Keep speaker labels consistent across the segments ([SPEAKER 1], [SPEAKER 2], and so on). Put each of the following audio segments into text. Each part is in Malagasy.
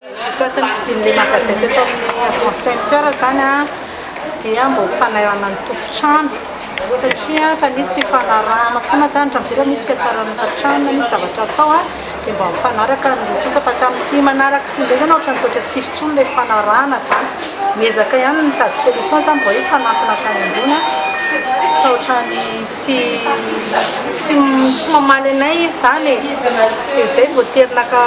[SPEAKER 1] Mikasika ny fisian'ny magazette eto amin'ny Avant Center izany dia mba ho fanahirana ny tompon-trano satria efa nisy fifanarahana foana izany, raha mizera misy fiafarana efa hatrany na misy zavatra atao dia mba mifanaraka ny lotika fa tamin'ity manaraka ity indray izany ohatran'ny toa tsy nisy intsony ilay fifanarahana izany. Miezaka ihany ny mitady solution izany mba hoe hifanantona hatrany ambony fa ohatran'ny tsy. Tsy tsy tsy mamaly anay izy zany e, de zay vao tery naka,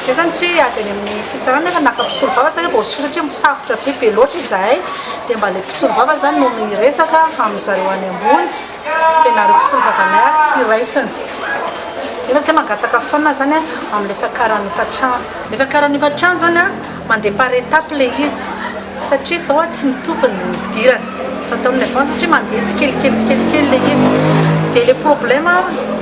[SPEAKER 1] zay zany tsy hoe avy any amin'ny fitsarana nefa naka mpisolo vava satria vao sosotra hoe misafotra be be loatra izahay de mba le mpisolo vava zany no miresaka amin'ny zareo any ambony de nareo mpisolo vava anay ary tsy raisina, nefa zay mangataka foana zany a amin'ny fiakaran'ny efa-trano. Ny fiakaran'ny efa-trano zany a. Mandeha par étape ilay izy satria izao tsy mitovy ny nidirany fa tao amin'ny avant satria mandeha tsikelikely tsikelikely ilay izy dia ilay problème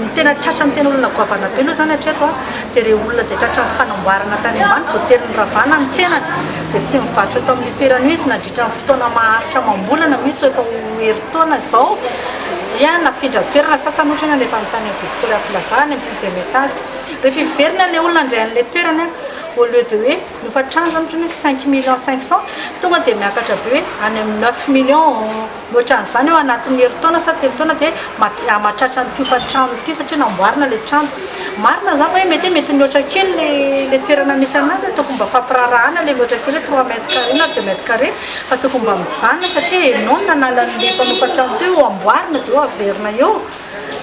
[SPEAKER 1] ny tena tratran'ny tena olona goavana be aloha izany hatreto dia ireo olona izay tratran'ny fanamboarana tany ambany voatery niravana ny tsenany dia tsy mivarotra eto amin'ny toerana io izy nandritra ny fotoana maharitra amam-bolana misy efa ho herintaona izao dia nafindra toerana sasany ohatra hoe nalefa any tany amin'ny Victoria Plaza any amin'ny sixième étage rehefa hiverina ilay olona indray an'ilay toerana au lieu de hoe nofatranja otrany hoe cinq millions cinq cent tonga dia miakatra be hoe any amin'ny neuf millions otrany zany eo anatin'ny herintaona sa telo taona dia hamatratra ny tokantrano ity satria namboarina ilay trano marina zany hoe mety mety mihoatra kely le le toerana misy anazy tokony mba fampiraharahana le mihoatra kely hoe trois mètres carrés na deux mètres carrés fa tokony mba mijanona satria ianao no nanala an'ilay mpanofa trano teo amboarina dia eo averina eo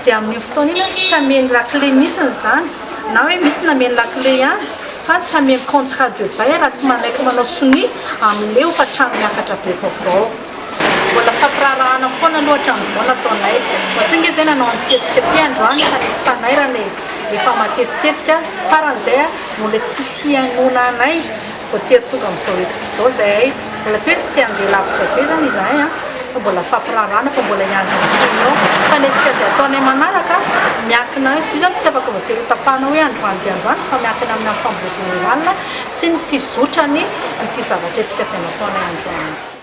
[SPEAKER 1] Dia amin'iny fotoana iny aho tsy hameno lakile mihitsy izany, na hoe misy nameno lakile ihany fa tsy hameno contrat de bail raha tsy manaiky manao sonia amin'ilay hofan-trano miakatra be vaovao. Mbola mifampiraharahana foana aloha hatramin'izao ny ataonay. Vao tonga izy dia nanao an'ity hetsika ity androany fa nisy fanairana e! Efa matetitetika, faran'izay no ilay tsy fihainoana anay. Voatery tonga amin'izao hetsika izao izahay, mbola tsy hoe tsy te handeha lavitra be izany izahay an, fa mbola fampiraharahana fa mbola hiandry ny tournoi, fa ny hetsika izay ataonay manaraka miankina, izy io izany tsy afaka voatery ho tapahana hoe androany dia androany fa miankina amin'ny assemblée générale sy ny fizotran'ity zavatra hetsika izay nataonay androany ity.